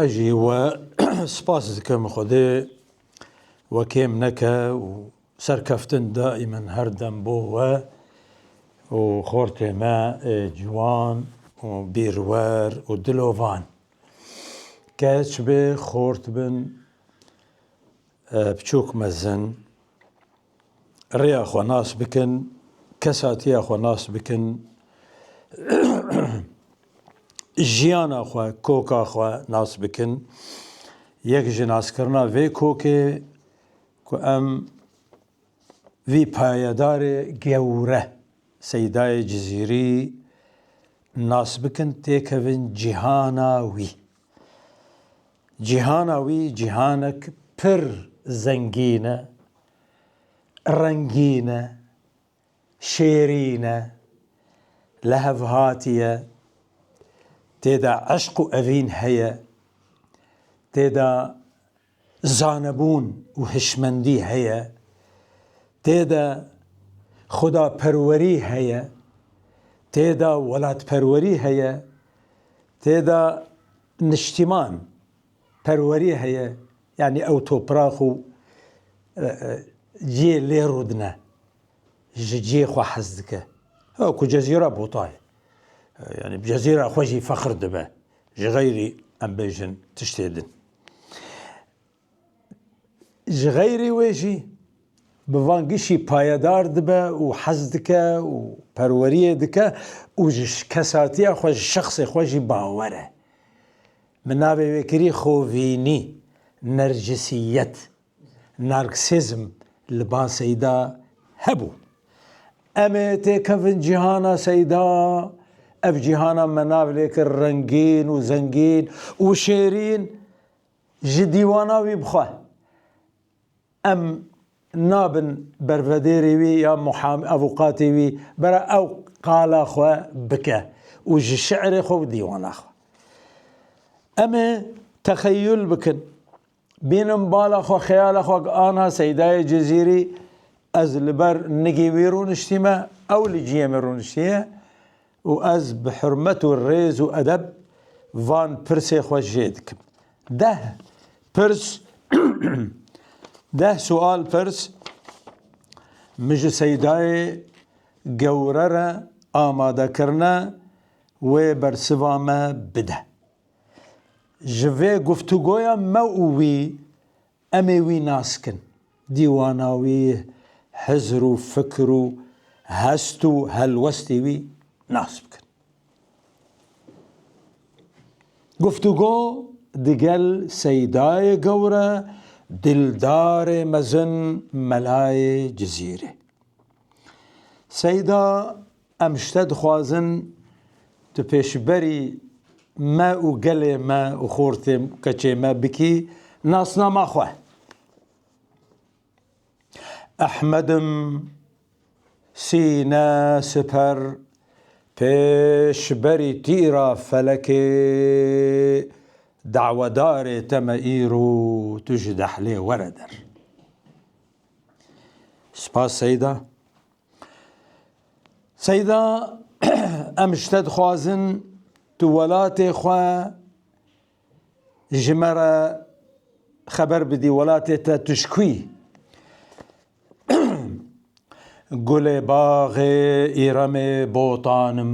Ez jî we spas dikim Xwedê we kêm neke û serkeftin daîm in her dem bo we û xortê me ê ciwan û bîrwer û dilovan. Keç bê, xort bin, piçûk mezin. rêya xwe nas bikin, kesatiya xwe nas bikin, jiyana xwe, koka xwe nas bikin. Yek ji naskirina vê kokê ku em vî payedarê gewre Seyidayê Cizîrî nas bikin têkevin cîhana wî. Cîhana wî cîhanek pir zengîn e, rengîn e, şêrîn e, lehevhatî ye, tê de eşq û evîn heye, tê de Zanebûn û hişmendî heye, tê de xwedaperwerî heye, tê de welatperwerî heye, tê de niştîman perwerî heye, yanî ew toprax û ciyê lê rûdine, ji ciyê xwe hez dike. Ew ku Cezîra Botay e. Yanî bi Cezîra xwe jî fexir dibe, ji xeyrî em bêjin tiştê din. Ji xeyrê wê jî bi van gişî payedar dibe û hez dike û perweriyê dike û ji kesatiya xwe ji şexsê xwe jî bawer e. Min navê wê kirî xovînî, nercisiyet. Narksîzm li ba Seyda hebû. Em ê têkevin cîhana Seyda. Ev cîhana me nav lê kir rengîn û zengîn û şêrîn ji dîwana wî bi xwe. Em nabin bervedêrê wî ya muham avûkatê wî bera ew qala xwe bike û ji şi'rê xwe û dîwana xwe. Em ê texeyûl bikin. Bînim bala xwe xeyala xwe ki ana Seydayê Cizîrî ez li ber nigê wî rûniştîme, ew li ciyê min rûniştiye û ez bi hurmet û rêz û edeb van pirsê xwe jê dikim. Deh pirs deh sual pirs min ji Seydayê gewre re amadekirine wê bersiva me bide. Ji vê guftugoya me û wî em ê wî nas kin. Dîwana wî, hizr û fikir û hest û helwestê wî nas bikin. Guftugo digel Seyidayê Gewre, Dildarê Mezin, Melayê Cizîrê. Seyda Em ji te dixwazin tu pêşberî me û gelê me û xortê keçê me bikî nasnama xwe. Ehmedim sîne siper pêşberî tîra felekê dawedarê te me îro tu ji dehlê were der. Spas Seyda. Seyda em ji te dixwazin tu welatê xwe ji me re xeber bidî welatê te tu ji kuyî Gulê baxê îremê botanim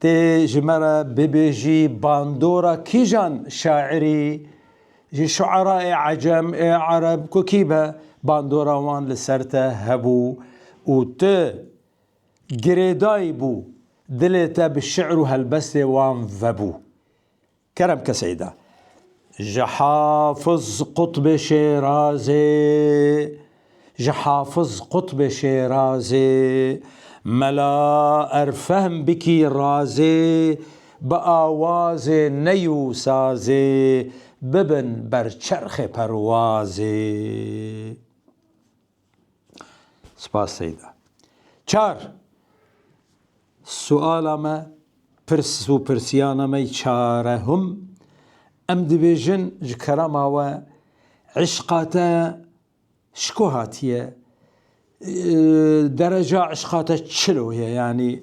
Tê ji me re bibêjî bandora kîjan şairî ji şueraê ecem ê ereb ku kî be bandora wan li ser te hebû û tu girêdayî bû dilê te bi şiir û helbestê wan vebû. Kerem Keseyda, ji Hafiz Qutbê Şêrazê Ji Hafiz Qutbê Şêrazê, Mela Erfehm bikî razê, Bi awazê ney û sazê, Bibin ber çerxê perwazê. Spas Seyda. Çar. Suala me pirs û pirsiyana me çarehum em dibêjin ji kerama we îşqa te şiko hatiye dereca îşqa te çilo ye yanî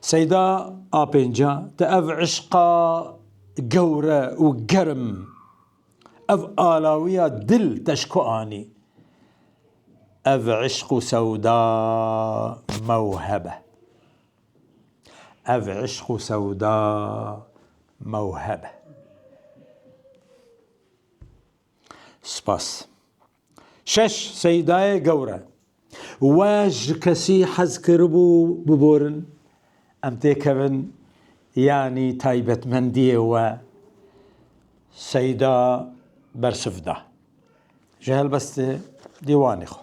Seyda a pênca te ev îşqa gewre û germ, ev alawiya dil te ji ku anî? Ev îşq û sewda mewheb e. Ev îşq û sewda mewheb e. Spas. Şeş, Seydayê gewre. We ji kesî hez kiribû biborin? Em têkevin yanî taybetmendiyê we Seyda bersiv da ji helbestê dîwanê xwe.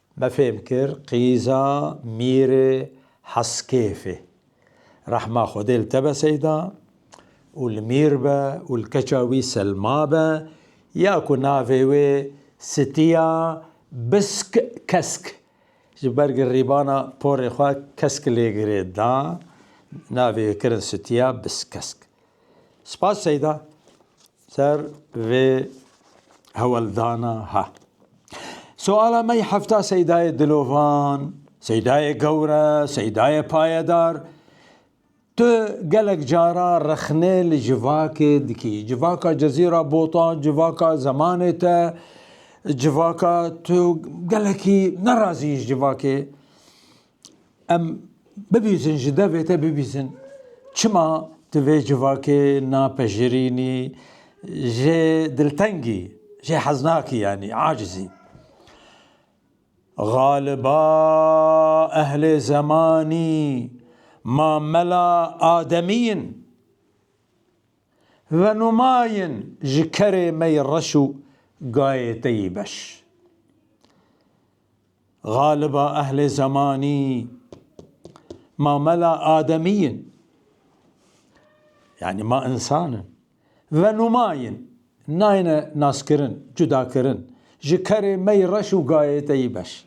Me fêm kir qîza mîrê Heskêfê rehma Xwedê li te be Seyda û li mîr be û li keça wî Selma be ya ku navê wê Sitiya Bisk Kesk ji ber girîbana porê xwe kesk lê girê da navê wê kirin Sitiya Bisk Kesk. Spas Seyda. Ser vê heweldana he. Suala me yê hefta Seydayê Dilovan, Seydayê Gewre, Seydayê Payedar, tu gelek cara rexne li civakê dikî, civaka Cezîra Botan, civaka zemanê te, civaka tu gelekî nerazî ji civakê, Em bibîzin ji devê te bibîzin çima tu vê civakê napejirînî jê diltengî jê heznakî yanî acizî. Galiba ehlê zemanî ma mela ademîyin venumayin ji kerê mey reş û gayê te yî beş. Galiba ehlê zemanî ma mela ademî yin. Yanî ma însan in ve nûma yin. Nayêne naskirin, cudakirin ji kerê me yî reş û gayê te yî beş.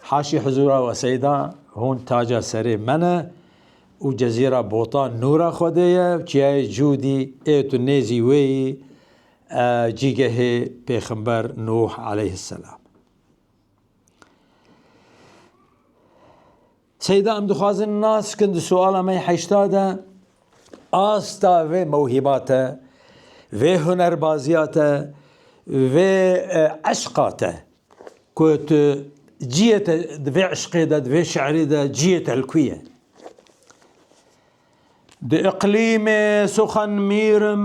Haşî hizûra we seyda hûn taca serê me ne û cezîra botan nûra Xwedê ye. Çiyayê Cûdî ê tu nêzî wê yî Cîgehê Pêxember Nuh aleyhisselam. Seyda em dixwazin nas kin di suala me heşta de asta vê mewhîba te, vê hunerbaziya te, vê e, eşqa te ku tu ciyê te di vê eşqê de, di vê şerî de ciyê te li ku ye? Di iqlîmê Soxan Mîrim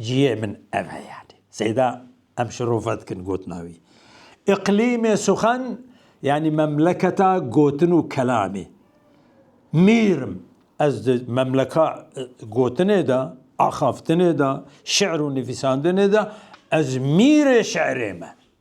Ciyê min ev e yanî. Seyda em şirofa dikin gotina wî. Îqlîmê suxan yanî memleketa gotin û kelamê. Mîrim ez di memleka gotinê de, axaftinê de, şi'r û nivîsandinê de ez mîrê şi'rê me.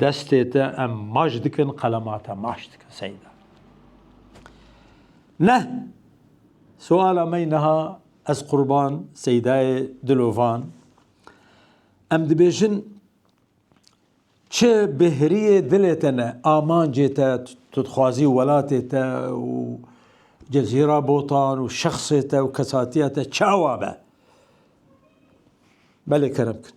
Destê te em maş dikin, qelema te maş dikin Seyda. Neh, suala me niha ez qurban Seydayê dilovan. Em dibêjin çi bêhriyê dilê te ne, amancê te, tudxwazî welatê te û Cezîra Botan û şexsê te û kesatiya te çawa be? Belê kerem kin.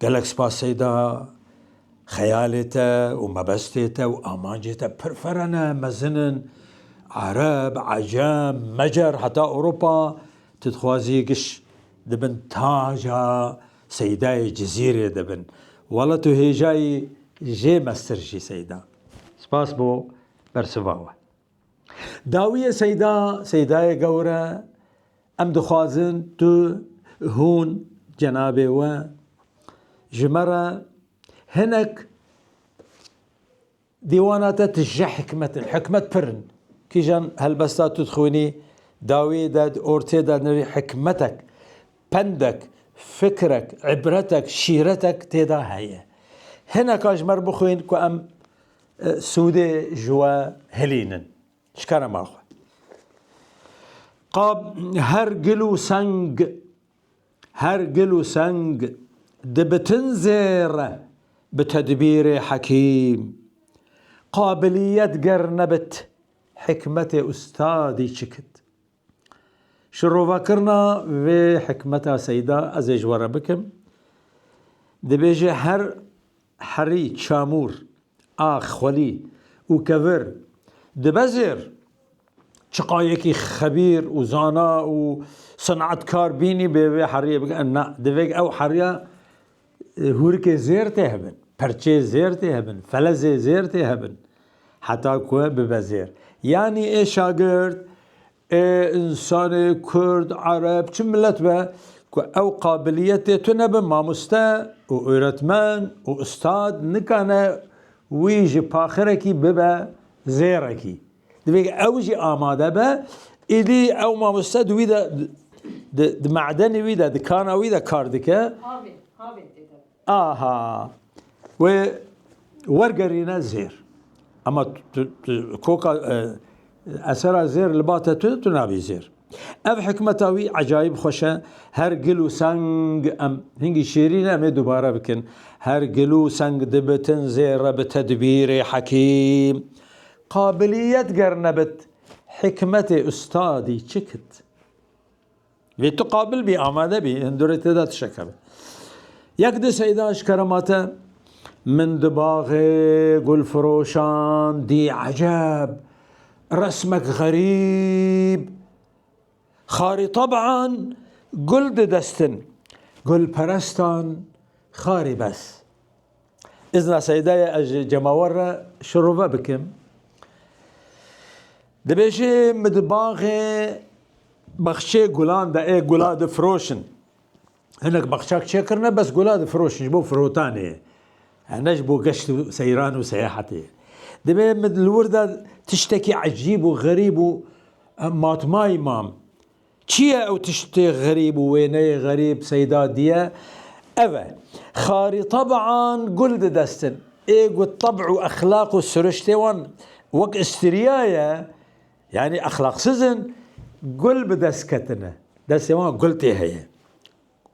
Gelek spas Seyda, xeyalê te û mebestê te û amancê te pir fere ne, mezin in. Ereb, Ecem, Mecer heta Ewropa tu dixwazî giş di bin taca Seydayê Cizîrê de bin. Wala tu hêjayî jê mestir jî Seyda. Spas bo bersiva we. Dawiyê Seyda, Seydayê gewre, em dixwazin tu, hûn, cenabê we ji me re hinek dîwana te tije hikmet in. Hikmet pir in. Kîjan helbesta tu dixwînî dawiyê de, di ortê de nirî hikmetek, pendek, fikrek, îbretek, şîretek têda heye. Hineka ji me re bixwîn ku em Sûdê ji we hilînin ji kerema xwe. Qab her gil û seng her gil û seng dibitin zêre bi tedbîrê hekîm. Qabiliyet ger nebit hikmetê ustadî çikit. Şirovakirina vê hikmeta Seyda ez ê ji we re bikim. Dibêje her herî, çamûr, ax, xwelî û kevir dibe zêr. Çiqayekî xebîr û zana û sinetkar bînî bê vê heriyê bike. Na, divêg ew heriya Hûrikê zêr tê hebin, perçê zêr tê hebin, felezê zêr tê hebin heta ku bibe zêr. Yanî ê şagird, ê însanê kurd, ereb, çi milet be ku ew qabiliyetê tu nebe mamoste û oretmen û ustad nikane wî ji paxirekî bibe zêrekî. Divê ew jî amade be. Êdî ew mamoste di wî de di me'denê wî de di kana wî de kar dike. Aha. Wê wergerîne zêr. Ama koka e, esera zêr li bate tu tu nabî zêr. Ev hikmeta wî ecayib xweş e. Her gil û seng em hingî şêrîn em ê dubare bikin. Her gil û seng dibitin zêre bi tedbîrê hekîm. Qabiliyet ger nebit hikmetê ustadî çi kit? Vê tu qabil bî, amade bî, hindurê tê de tişek hebe. Yek di seyda ji kerema te min di baxê gulfiroşan dî eceb resmek xerîb xarî teban gul didestin gulperestan xarî bes Îzna Seyda ye ez ji cemawar re şirove bikim. Dibêje min di baxê baxçê gulan de ê gula difiroşin. Hinek baxçak çêkirine bes gula difiroşin ji bo firotanê ye. Hene ji bo geşt û seyran û seyahatê ye. Dibê min li wir de tiştekî ecîb û xerîb û matmayî mam. Çi ye ew tiştê xerîb û wêneyê xerîb seyda diye? Ev e. Xarî tebean gul didestin. Ê ku teb û exlaq û siriştê wan wek istirîya ye, yanî exlaqsiz in, gul bi dest ketine. Destê wan gul tê heye.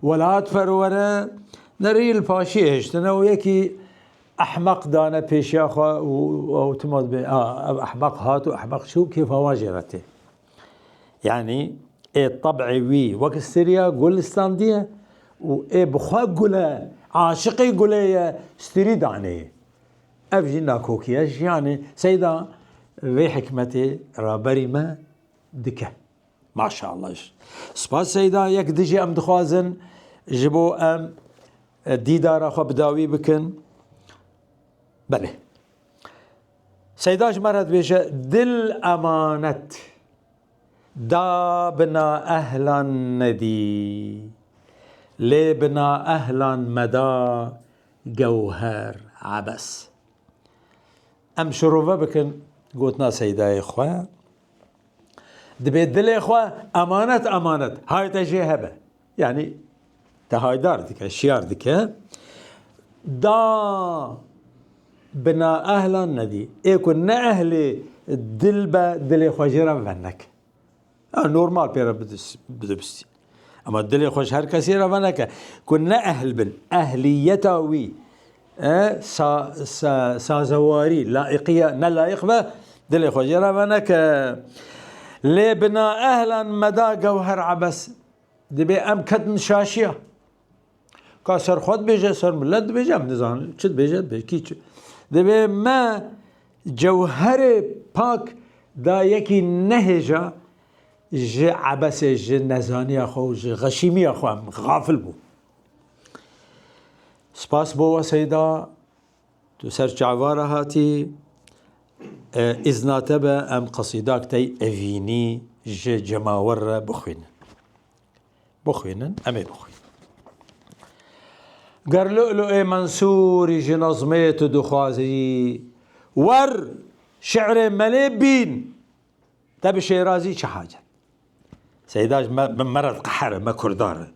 Welatperwere Nerîl Paşî hiştine û yekî ehmeq dane pêşiya xwe û ew tima dibê a ev ehmeq hat û ehmeq çû kêfa wan jê re tê. Yanî ê teb'ê wî wek stêriya gul standî ye û ê bi xwe gul e, aşiqê gulê ye, stêrî danê. Ev jî nakokiya jiyanê Seyda vê hikmetê raberî me dike. Maşallah. Spas Seyda yek dijî em dixwazin ji bo em e, dîdara xwe bi dawî bikin. Belê. Seyda ji me re dibêje dil emanet da bina ehlan nedî. Lê bina ehlan meda gewher ebes. Em şirove bikin gotina Seydayê xwe. Dibê dilê xwe emanet emanet hay te jê hebe. Yanî te haydar dike, şiyar dike. Da bina ehlan nedî. Ê ku ne ehlê dil be dilê xwe jê re venek. Normal pê re bidibistî. Ema dilê xwe ji her kesê re veneke ku ne ehl bin, ehliyeta wî e, sazewarî, layiqiya nelayiq be, dilê xwe jê re veneke. Lê bi naehlan me da gewher ebes. Dibê em ketin şaşiya. Ka ser xwe dibêje ser millet dibêje em nizanin çi dibêje dibêje kî çi. Divê me cewherê pak da yekî nehêja ji ebesê ji nezaniya xwe û ji xeşîmiya xwe em xafil bû. Spas bo we Seyda tu ser çavara hatî îzna te be em qesîdak tey evînî ji cemawer re bixwînin. Bixwînin, em ê bixwînin. Ger Lu'lu'ê Mensûrî ji nazmê tu dixwazî wer şi'rê melê bîn, te bi Şêrazî çi hacet? Seyda ji me me re diqehere, me Kurdan re.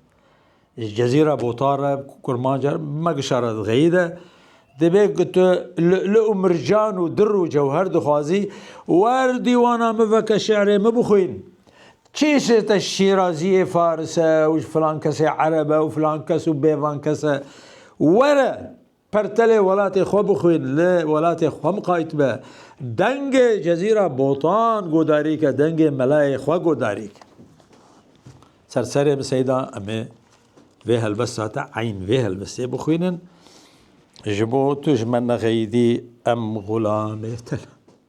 Ji Cezîr re, Botan re, Kurmanca re, me gişa re digheyî de. Divê ku tu Lu'lu' û Mircan û Dir û Cewher dixwazî wer dîwana min veke şi'rê min bixwîn. Kê ji te Şîraziyê Faris e û ji filan kesê Ereb e û filan kes û bêvan kes e. Were pertelê welatê xwe bixwînin li welatê xwe miqayt be. Dengê Cezîra Botan godarî ke dengê melayê xwe godarî ke. Ser serê min Seyda em ê vê helbesta te eyn vê helbestê bixwînin. Ji bo tu ji me nexeyîdî em xulamê te ne.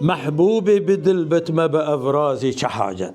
Mehbûbê bi dil bit me bi evrazê çi hacet.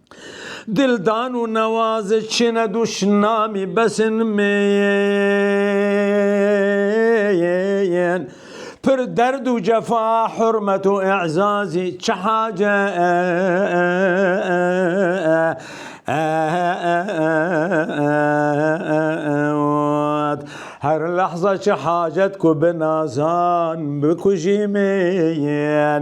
Dildan û Nawaz çêne du şinamî besên me yên. Pir derd û cefa, hurmet û î'zazî çi hace ot. Her lehza çi hacet ku bi nazan bikujî me yên.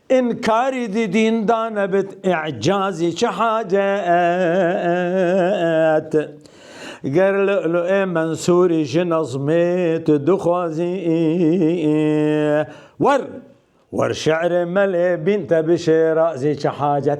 Înkarî di dîn da nebit î'cazî çi hacet. Ger Lu'lu'ê Mensûrî ji nezmê tu dixwazî wer, wer şi'rê melê bîn te bişêra zî çi hacet.